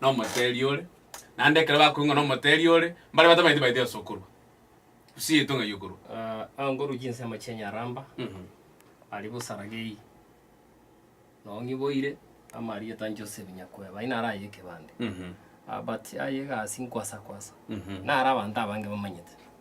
nomoteeri ore, naende ekero bakoigwa ng'a nomoteeri ore, mbare batamanyeti baete ase okorwa. Gusii yaito ng'ai okorwa? Ah, aa ngorwa chinsemo chi'enyaramba, Mhm. aria bosaragei, noo ng'iboire amarieta Joseph Nyakweba, inare aye ekebande. Mhm. Ah, but aye egasi nkwasa kwasa, Mhm. nare abanto abange bamanyete.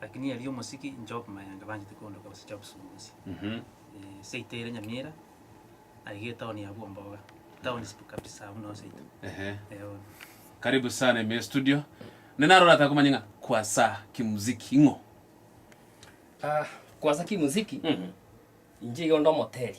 Lakini erio omosiki Job Mayanga banchete koondoka gose Job Sumusi, seito ere Nyamira, aiga etown ya Bwomboga, town sp kabisa buna oo seito. Ehe. Eono. Karibu sana ime studio. Ne naro orataka komanya ng'a kwasa kimuziki ing'o? Ah, kwasa kimuziki, inche iga onde omoteri.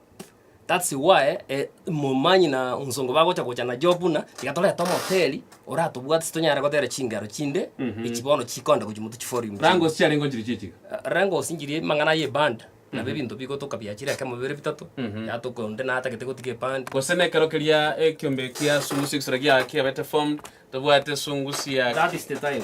That's why eh, momanyi na nsongo bagocha gocha na Job buna tiga torete omoteli oratobwate tonyare gotera chingero chinde echi bono chikonda gochi moto chiforium Rango siarengo nchiri chichiga. rengo osinjirie mang'ana ye band nabo ebinto bigotoka biachire ekemo bibere bitato yatoka onde natagete gotiga eband Gose nekero keria ekiombe kia sungusia egisoro giaga kiabete formed, tobwate sungusia that is the time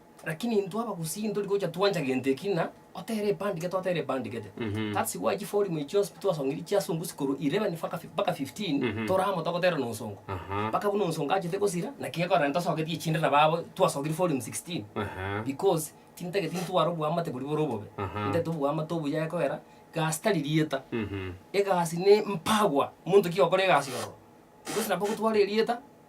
Lakini intwe abagusii ntori gocha twancha gento eki na otera ebandike twatera ebandikete. Mhm. That's why chifolimu echi chionsi twasongiri chia ase ongusi korwa 11 faka fi- mpaka 15 Mhm. tore amo togotera na onsongo. Aha. Mpaka buna onsongo achete gosira naki gekorera ntosogetie echinde na babo twasogiri folimu 16 Aha. because tintageti ntware oboamate boria bore obobe. Aha. Ntagete oboamate obuya ekogera gasi tari rieta. Mhm. Egasi ne mpagwa monto ki ogokora egasi ororo. Because nabo gotwara erieta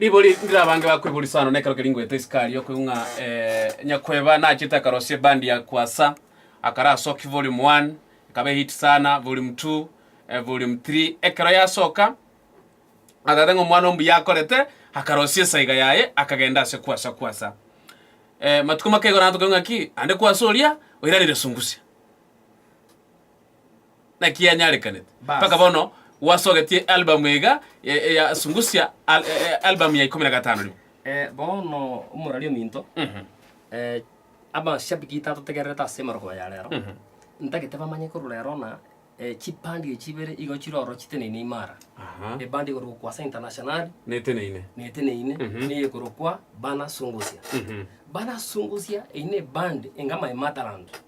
Ribori ndire abange bakweburisa ano nekero keria ngoeta Isikario koigwa ng'a eh, nyakweba nachete akarosia ebandi ya Kwasa akare asoki volume 1 ekaba ehit sana volume 2 eh, volume 3 ekero yasoka agatata ng'a omwana ombuya akorete akarosia esaiga yaye akagenda ase Kwasa Kwasa eh, matuko make igoro nato koigwa ng'a ki ande Kwasa oria oirarire sungusia Naki yanyarekanete mpaka bono gwasogetie ealbamu iga ya Zungusha ealbamu ya ikomi na gatano rimo. Bono omorwari ominto, abashabiki tatotegererete ase emerogo ya rero, ntagete bamanye korwa rero ng'a chipande echi chibere igo chire oro chiteneine imara. Ebandi ekorokwa ase Internationali neteneine, neteneine, neye ekorokwa Bana Zungusha. Bana Zungusha eye ne ebandi enga Maimatalanta.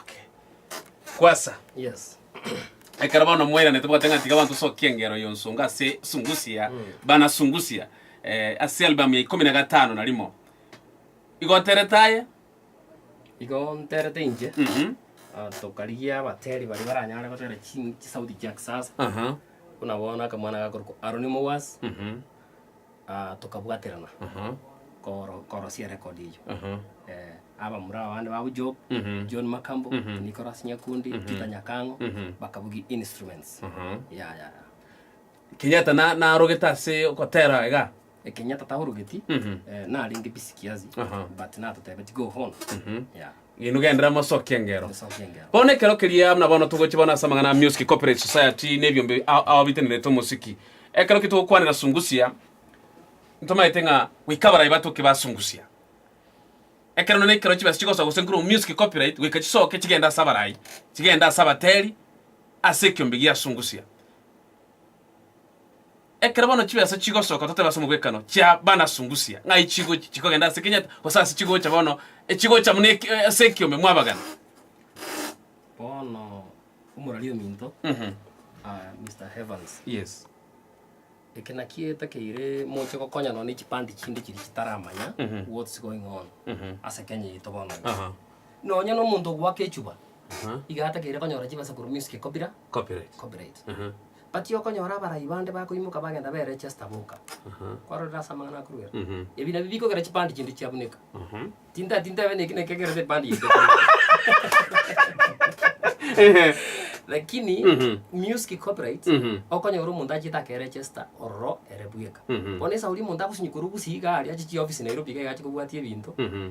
Okay. Kwasa. Yes. Ekero bono mweranete bwate ng'a tiga abanto sokia engero yonsonga ase sungusia mm. bana sungusia eh, ase album ya ikumi na gatano na rimo igoterete aye igonterete inche mm -hmm. Ah, tokarigia abateri bari baranyare gotera chisauti chia kisasa buna bono akamwana gakorokwa aroni mowas mhm. tokabwaterana korosia erekodi eyio. Abamura abande babo Job, John Makambo, Nicholas Nyakundi, Peter Nyakang'o, bakabugia instruments. Yaya. Kenyatta na- narogete ase ogotera iga Kenyatta taorogeti, narenge busy kiasi, but natotebeti go on. Yeah. Inwe gendera mosokie engero. Bono ekero keria buna bono togochi bono ase amang'ana a Music Corporate Society na ebiombe a- aobitenerete omosiki. Ekero ki togokwanera Sungusia, ntomaete ng'a goika abarai batoke ba Sungusia. Ekero nonye ekero chibesa chigosoka gose nkorwa Music Copyright goika chisoke chigende ase abarai, chigende ase abateri ase ekiombe gia Sungusia. Ekero bono chibesa chigosoka totabe ase omogwekano chia banasungusia ng'ai chigochi chikogenda ase Kenyatta gose ase chigocha bono echigocha buna eki- eh, ase ekiombe mwabagana. Bono omorari ominto Mhm. ah, Mister Evans, Yes. eke naki etakeire moche gokonya nonye ne chipande chinde chiria chitaramanya Mhm. what's going on Mhm. ase Kenya yaito bono. Aha. Nonya nomonto ogoaka echuba Aha. iga atakeire konyora chibesa korwa music copyri- Copyright. copyright. Aha. But okonyora abarai bande bakoimoka bagenda be register boka. Aha. Kwarorire ase amang'ana akorwa ere. Mhm. Ebi nabio bikogera chipandi chinde chiabuneka. Aha. Tinta tinta ebe neki nekegerete epandi yaito. Ehe. Lakini Mhm. music copyright Mhm. okonyora omonto achiete ake register ororo ere bweka. Mhm. Bono esauri omonto agosinywa korwa Gusii iga aria achiche chiofisi Nairobi iga iga ache kobwatia ebinto. Mhm.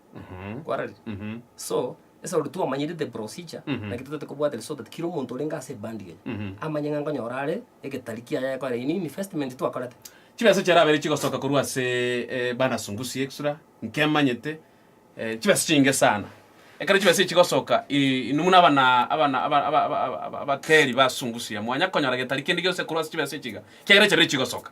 kwararire. So, ase ore twamanyire the procedure, naki totagete kobwatera so that kera omonto orenge ase ebandi eye, amanye ng'a nkonyora are egetari kiaye ayekorera in investment twakorete. Chibesa chiarabere chigosoka korwa ase eh, Bana Sungusi Extra, nkemanyete eh, chibesa chinge sana. Ekero chibesa echi chigosoka, eh, inwe muna abana abana aba- aba- aba- aba- abateri ba Sungusi iga, mwanya konyora getari kende gionsi korwa ase chibesa echi iga, ekiagera chabere chigosoka.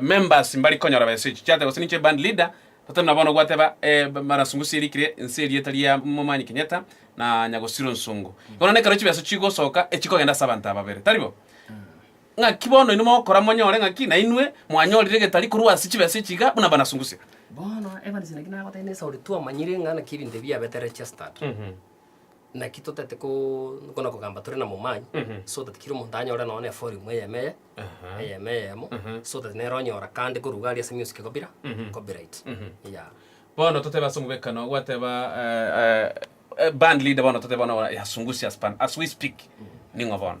Members mbari konyora besa echi chiateba gose ninche band leader totari na bono gwateba mana nsongo sia erikire nse erieta ria momanyi Kenyatta na nyagosiro nsongo bono nekero chibesa chigosoka echikogenda ase abanto ababere tari bo ng'aki bono inwe mogokora monyore ng'aki na inwe mwanyorire getari korwa ase chibesa echi iga buna bana nsongo sia Bono Evans naki nagotebia nesa ore twamanyire ng'a naki ebinto ebi biabete registered. Naki totaete ko- kona kogamba tore namomany, Mhm. so that kera omonto anyore nonya ne volume eyemo eye, Aha. eyemo eyemo, Mhm. so that nere onyora kande koruga aria ase music kobira, Mhm. copyright. Mhm. Yeah. Bono totebe ase omobekano gwateba eh, eh, eh, band leader bono totebe bono yasungusya span as we speak ning'o bono?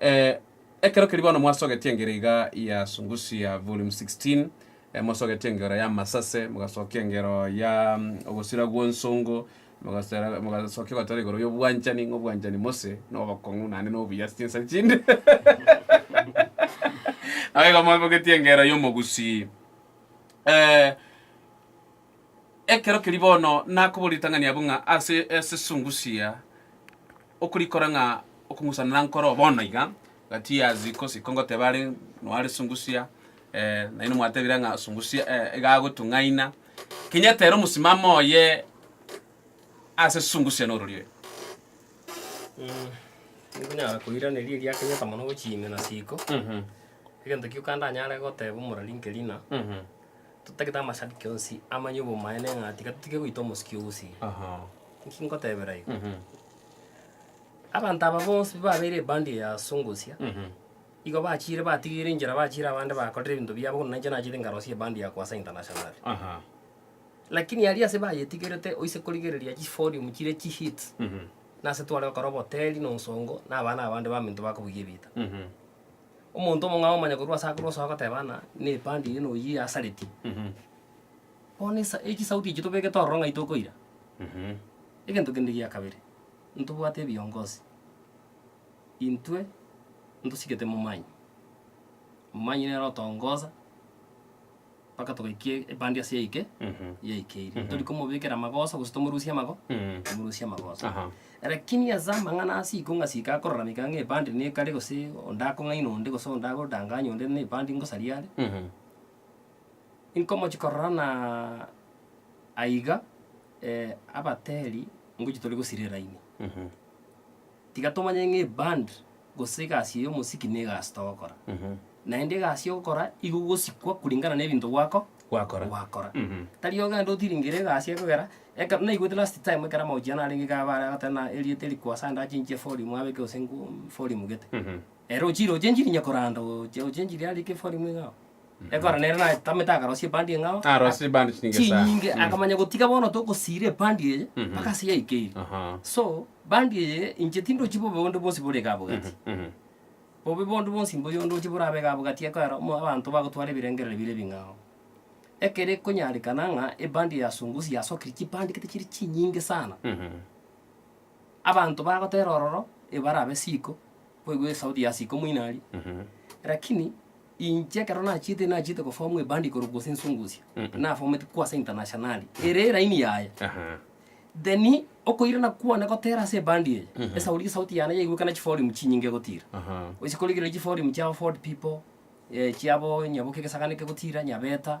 Eh, ekero keria bono mwasogetie engeri iga ya Sungusia volume 16, eh, mwasogetie engero ya masase, mogasokia engero ya mm, ogosira gw'onsongo, mogasera- mogasokia gotora igoro y'obwanchani, ng'a obwanchani mose na obokong'u naende na obuya ase chinsa chinde. Nabo igo mwabogetie engero y'omogusii. Eh, Ekero keria bono nakoboria ritang'ani abwo ng'a ase esesungusia okorikora ng'a okong'usana nankoro bono iga, gati years kosi ko ngoteba are noa risungusia naende mwatebire ng'a sungusia iga agotung'aina. Kinyete ere omosimamo oye ase esungusia norori oye. Nkonyara koiraneria eria akenyete mono gochia ime na siko, egento gioka ndanyare goteba omorari nkerina, Totagete amashabiki onsi amanye obomaene ng'a tiga totige goita omosiki ouse. Inki ngotebera igo? Abanto aba bonsi babeire ebandi eye ase ongosia, igo bachiire batigeire enchera bachiire abande bakorire ebinto biabo buna inche nachete nkarosia ebandi ya Kwasa International. Lakini aria ase bayetigerete oise korigereria chifolium chiria chihits, nase tware gokora oboteri na onsongo na abana abande baminto bakobugia ebiita. Omonto omong'ao omanye korwa ase akore osoa goteba ng'a na epandi eye noyio yasareti. Bono esa echisauti echio tobegete ororo ng'ai tokoira. Egento kende gia kabere, ntobwate ebiongozi intwe ntosigete momanyi. Momanyi nere otongosa. mpaka togaikia ebandi ase yaike yaike iri. Tori komobekera amagoso gose tomorusie amago tomorusie amagoso. Aha. Lakini ase amang'ana ase iko ng'a sika akorarameka ng'a ebandi nekare gose onde akong'aina onde gose onde agodanganya onde na ebandi ngosaria are, inkomochi korora na aiga abateri ngochi tore gosira eraini. Tiga tomanye ng'a eband gose egasi eye omosiki nigo egasi togokora. Naende egasi ogokora igo ogosikwa kuringana na ebinto gwako Gwakora. gwakora. Mhm. Tari ogende otiringere egasi ekogera ekero naigwete last time ekero amagochia narenge iga bare agoteba na erieta eri kwasa ande achinchie volume abeke gose ngu volume gete. Mhm. Ere ochire ochenchiri inye koranda oche ochenchiri are kefori mwe ing'ao. Ekero nere natamete akarosia ebandi ing'ao. Arosie ebandi chinyinge sana. Chinyinge Mm. akamanya gotiga bono tokosiira ebandi eye Mhm. mpaka ase yaikeire. Aha. So bandi eye inche tindochi bobe bonde bwonsi bore iga abogati. Mhm, mhm. Bobe bonde bwonsi mbuya ondoche borabe iga abogati ekwera omo abanto bagotwara ebirengereri bire ebing'ao. Ekere konyarekana ng'a ebandi yasungusire yasokire chibandi gete chire chinyinge sana. Mhm. Abanto bagotera ororo ebarabe siko, boigwe esauti ya siko moino aria. Lakini inche ekero nachiete nachiete gofomu ebandi igoro gose ensungusia, nafometie kwa ase internationali, ere eraini yaye. Then okoirana kwane gotera ase ebandi eye, esauri esauti yane yaigwekana chiforim chinyinge gotira. Gochia korigereria chiforim chiabo Ford People, chiabo nyaboka egesagani kegotira, nyabeta.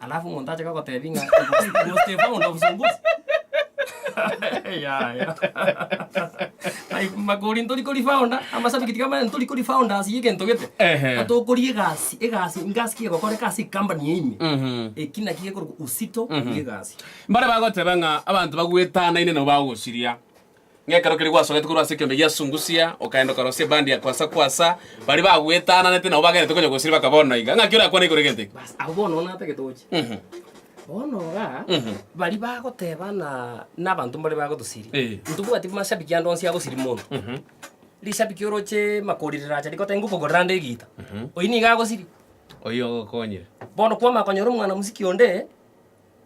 Alafu omonto ache gogotebi ng'a he was Stefano ndo obosongozi. Yaya. Like makori ntori kori founder, amashabiki tiga manya ntori kori founders y'egento gete. Ehe. Ng'a tokori egasi, egasi, ngasi ki egokoreka ase ecompany eye ime. Mhm. Eki naki gekorokwa uzito bw'egasi. Mbare bagoteba ng'a abanto bagwetanaine nabo bagosiria. Ng'a ekero keria gwasogete korwa ase ekeombe gia Sungusia, okaenda okarosia ebandi ya Kwasa Kwasa, baria bagwetananete nao bagenderete konya gosiria bakaba onde naiga. Ng'aki orakwane igoro egento eke? Bas, abwo bono bono natagete gocha. Mhm. Bono igaa, Mhm. baria bagoteba ng'a na abanto mbaria bagotosiria, Eh. ntobwati mashabiki ande onsi agosiria mono. Mhm. Rishabiki oroche makorire racha rigoteba ngokogorera ande egiita, oyio nigo agosiria. Oyio ogokonyire. Bono kwamanya konyora omwana mosiki onde.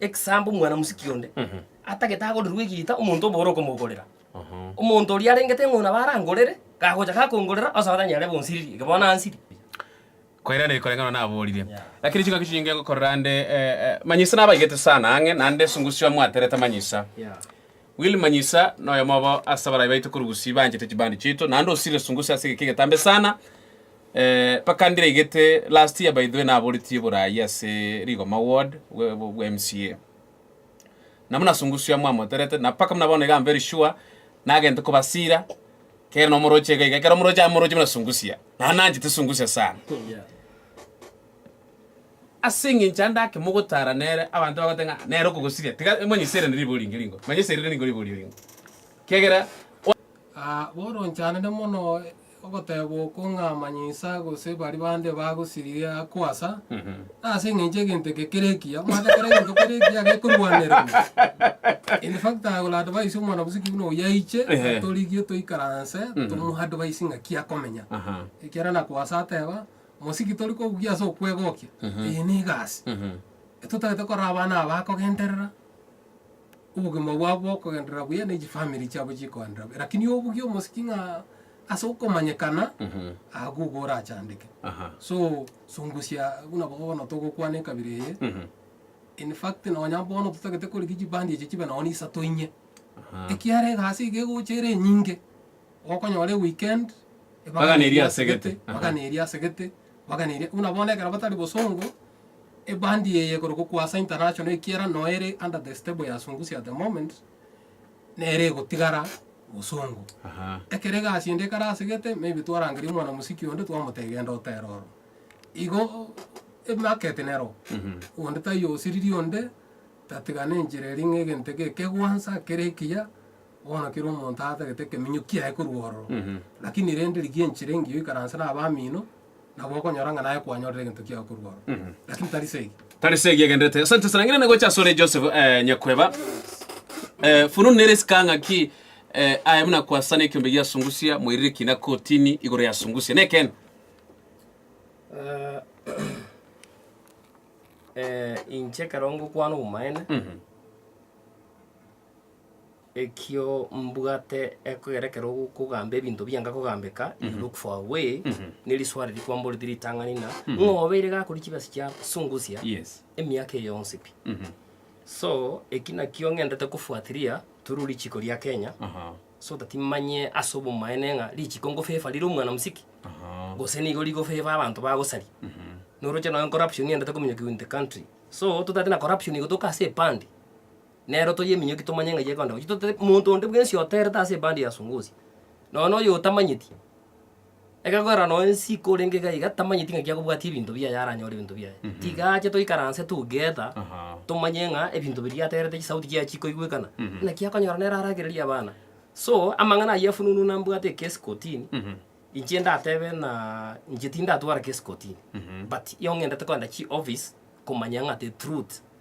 Ekesambo omwana-mosiki onde atagete agorerwe egiita omonto obo ore okomogorera. Omonto oria arengete ng'o nabo arangorere, gagocha gakongorera, onsi abataini are bonsiriri, eke bono ansiri. Koirana eri koreng'ana naborire. Lakini chingaki chinyinge ngokorera ande manyisa nabaigete sana ang'e, naende esungusio amwaterete manyisa. Will Manyisa noyomo obo ase abarai baito korugusi baanchete chibandi chiaito naende osirire sunguse ase egeka egetambe sana eh, mpaka ndiregete last year by the way naboretie borai ase rigoma ward bwa MCA nabo nasungusio amo amoterete na mpaka muna bono iga am very sure nagente kobasira kere nomoroche iga iga ekero omoroche amoroche muna sungusia naende nanchete sungusia sana Ase engencho ande ake mogotara nere, abanto bagoteba ng'a nere okogosiria, tiga manya iserane ribe oringe ringo, manya iserire ningo ribe orie ringo, kiagera. Aa, boronchanire mono ogoteba oko ng'a manya insa gose baria bande bagosiririe akoasa, ase engencho egento eke kere ekiya, omanyete kera egento kere ekiya gekorwanererwa. In fact I will advise omwana bosiki buna oyio aiche Ehe. atorigie toikaranse, Ehe. tomo advise ng'aki akomenya, Aha. ekiagera nakoasa ateba. Mosiki tori kogugia ase okwegokia, eye nigo ase. Etotagete korora abana aba bakogenderera, obogima bwabo bokogenderera buya ne chifamiri chiabo chikoenderera buya. Rakini obugie omosiki ng'a ase okomanyekana, agwo igo orachandeke. So, sungusia buna abwo bono togokwana ekabira eye, in fact nonya bono totagete korigia chibandi echi chibe nonye ne isato inye, ekiara egasi iga egocha ere enyinge. Gokonyora eweekend, Bagana eria ase gete. Aha. bagana eria ase gete, bagana eria. Buna bono ekero batari bosongo, ebandi eye ekorokwa Kwasa International ekiera noyo ere under the stable ya Sungusia at the moment, nere egotigara bosongo. Aha. Ekero egasi ende ekare ase gete, maybe twarangeria omwana mosiki onde twamotebia genda otere oro. Igo e market nero, onde taiyo osiriri onde, tatigana enchera eria ng'a egento eke ekegwansa, kere ekiya, Bono kera omonto atagete ekeminyo kiaye korwa ororo, lakini rende rigia enchera engiya oikaranse n'abamino, nabo okonyora ng'a naye kwanyorire egento kiago korwa ororo. Lakini tari segi. Tari segi egenderete. Asante sana. Ng'ina nagocha asore Joseph eh, Nyakweba. Eh, fununu nere esika ng'aki eh, aye buna kwasana ekiombe gia sungusia mwairire kina kotini igoro ya sungusia. Nekene. Eh, eh, inche ekero ngokwana obomaene Ekio mbwate ekogera ekero ogokogamba ebinto bianga kogambeka, you look for a way, ne risoa riria kwamboreti ritang'ani na ng'a obeire gakori chibesa chia sungusia Yes. emiaka eye yonsi pi. So, eki nakio ng'entete kofuatiria through richiko ria Kenya, Aha. so that manye ase obomaene ng'a richiko ngofavour rire omwana mosike, Aha. gose nigo rigofavour abanto bagosari. Noroche nonye corruption ng'entete kominyokiwa in the country. So, totaete na corruption igo toka ase epande. nero toyie eminyoki tomanye ng'ai egoenda gochia, totari monto onde bwensi oterete ase ebandi ya Songozi, nonya noyo otamanyeti, egegoera nonya esiko orenge iga iga tamanyeti ng'aki akobwatia ebinto biaye aranyore ebinto biaye. Tiga ache toikaranse together, tomanye ng'a ebinto biria aterete chisauti chiaye chikoigwekana, naki akonyora nere aragererie abana. So, amang'ana ayio afununu nambwate ekesi kortini, inche ndatebe ng'aa inche tindatwara kesi kortini but ong'endete koenda chioffice komanya ng'a the truth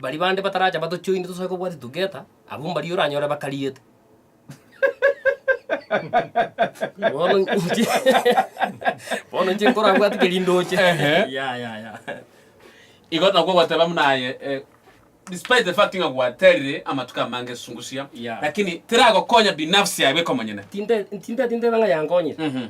Baria bande bataracha batochoine tosae kobwatia together, abwo mbaria oranyore bakariete. Bono inche bono inche nkorabwati keri ndoche. Ehe. Ya ya ya. Igo nabwo gwateba buna aye eh, despite the fact ng'a gwaterire amatuko amange esungusia Yeah. lakini tiragokonya binafsi yaye bweka omonyene Tinte tinte tintebe ng'a yankonyire. Mhm.